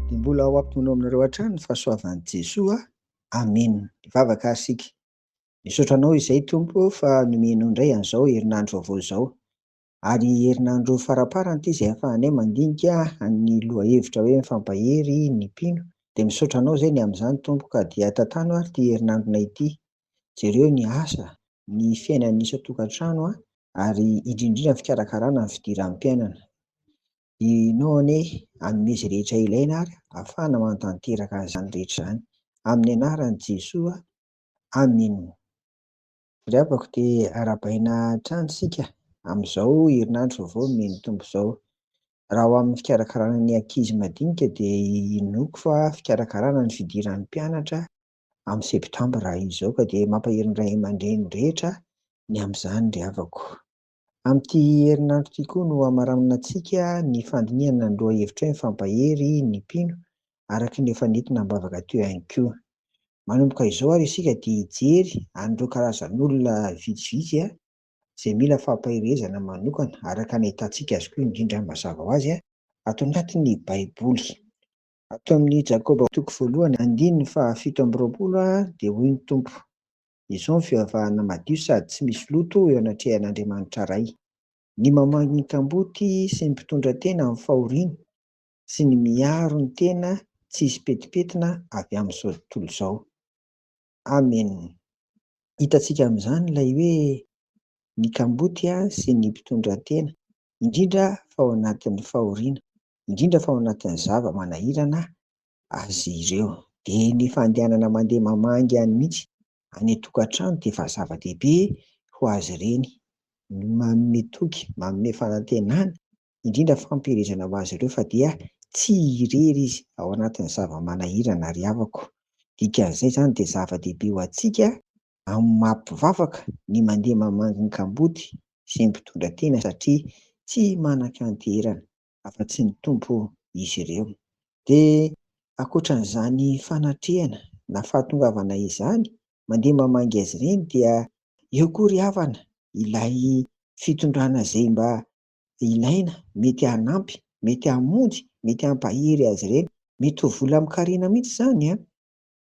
Dia mbola ho ampinono aminareo hatrany ny fahasoavan'i Jesoa. Amen. Mivavaka ary isika. Misaotra Anao izay, Tompo, fa nomenao indray an'izao herinandro vaovao izao. Ary herinandro faramparany ity izay ahafahanay mandinika ny lohahevitra hoe Mifampahery ny mpino. Dia misaotra Anao izay ny amin'izany, Tompo, ka dia tantano ary ity herinandronay ity. Jereo ny asa, ny fiainan'ny isan-tokantrano ary indrindra indrindra ny fikarakarana ny fidiran'ny mpiainana. Ianao anie hanome izay rehetra ilaina ary hahafahana manatanteraka izany rehetra izany. Amin'ny anaran'i Jesoa, Amena. Ry havako dia arahabaina hatrany isika amin'izao herinandro vaovao nomen'ny Tompo izao. Raha ho amin'ny fikarakarana ny ankizy madinika dia inoako fa fikarakarana ny fidiran'ny mpianatra, amin'ny septambra izao ka dia mampahery ny ray aman-dreny rehetra ny amin'izany ry havako. Amin'ity herinandro ity koa no hamaraninantsika ny fandinihana ny lohahevitra hoe Mifampahery ny mpino araka ny efa nentina am-bavaka teo ihany koa. Manomboka izao ary isika dia hijery an'ireo karazan'olona vitsivitsy izay mila fampaherezana manokana araka ny ahitantsika azy koa indrindra mazava ho azy ato anatin'ny baiboly. Ato amin'ny Jakoba toko voalohany andininy fahafito amby roapolo dia hoy ny Tompo, Izao ny fivavahana madio sady tsy misy loto eo anatrehan'Andriamanitra Ray, ny mamangy ny kamboty sy ny mpitondra tena amin'ny fahoriana, sy ny miaro ny tena tsy hisy petipetina avy amin'izao tontolo izao. Amen. Hitantsika amin'izany ilay hoe ny kamboty sy ny mpitondra tena, indrindra fa ao anatin'ny fahoriana, indrindra fa ao anatin'ny zava-manahirana azy ireo. Dia ny fandehanana mandeha mamangy any mihitsy any an-tokantrano dia efa zava-dehibe ho azy ireny. Manome toky, manome fanantenana, indrindra fampielezana ho azy ireo fa dia tsy irery izy ao anatin'ny zava-manahirana ry havako. Dikan'izay izany dia zava-dehibe ho antsika amin'ny maha mpivavaka ny mandeha mamangy ny kamboty sy ny mpitondra tena satria tsy manan-kanterana afa tsy ny Tompo izy ireo. Dia ankoatran'izany fanatrehana na fahatongavana izany mandeha mamangy azy ireny dia eo koa ry havana ilay fitondrana izay mba ilaina mety hanampy, mety hamonjy, mety hampahery azy ireny. Mety ho vola amin-karena mihitsy izany an!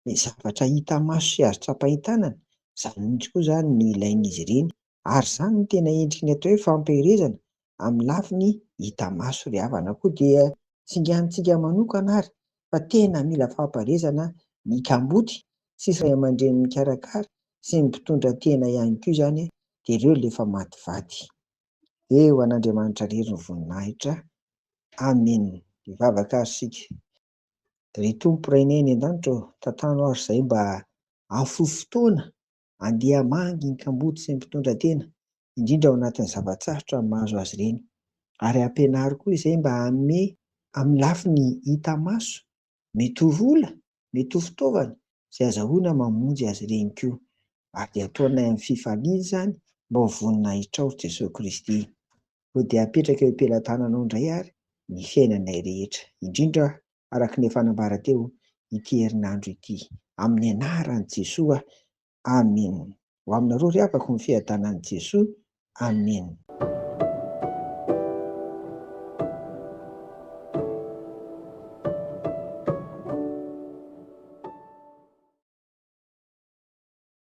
ny zavatra hita maso sy azo tsapain-tanana, izany mihitsy koa izany no ilain'izy ireny ary izany no tena endriky ny atao hoe fampielezana amin'ny lafiny hita maso. Ry havana koa dia singanintsika manokana ary fa tena mila fampielezana ny kamboty sy ray aman-dreny mikarakara sy ny mpitondra tena ihany koa izany dia ireo ilay efa maty vady. Eo an'Andriamanitra irery ny voninahitra. Amen. Hivavaka ary isika. Ry Tompo Rainay any an-danitra ô, tantano aho ry zay mba afoy fotoana andeha hamangy ny kamboty sy ny mpitondra tena, indrindra ao anatin'ny zava-tsarotra ny mahazo azy ireny. Ary ampianaro koa izay mba hanome amin'ny lafiny hita maso, mety ho vola, mety ho fitaovana, izay azahoana mamonjy azy ireny koa. Ary dia ataonay amin'ny fifaliana izany mba ho vonona ahitrao ry Jesoa Kristy. Koa dia apetraka eo am-pelatananao indray àry ny fiainanay rehetra, indrindra araka ny efa nambara teo ity herinandro ity. Amin'ny anaran'i Jesoa, amen. Ho aminareo ry havako ny fiadanan'i Jesoa, amen.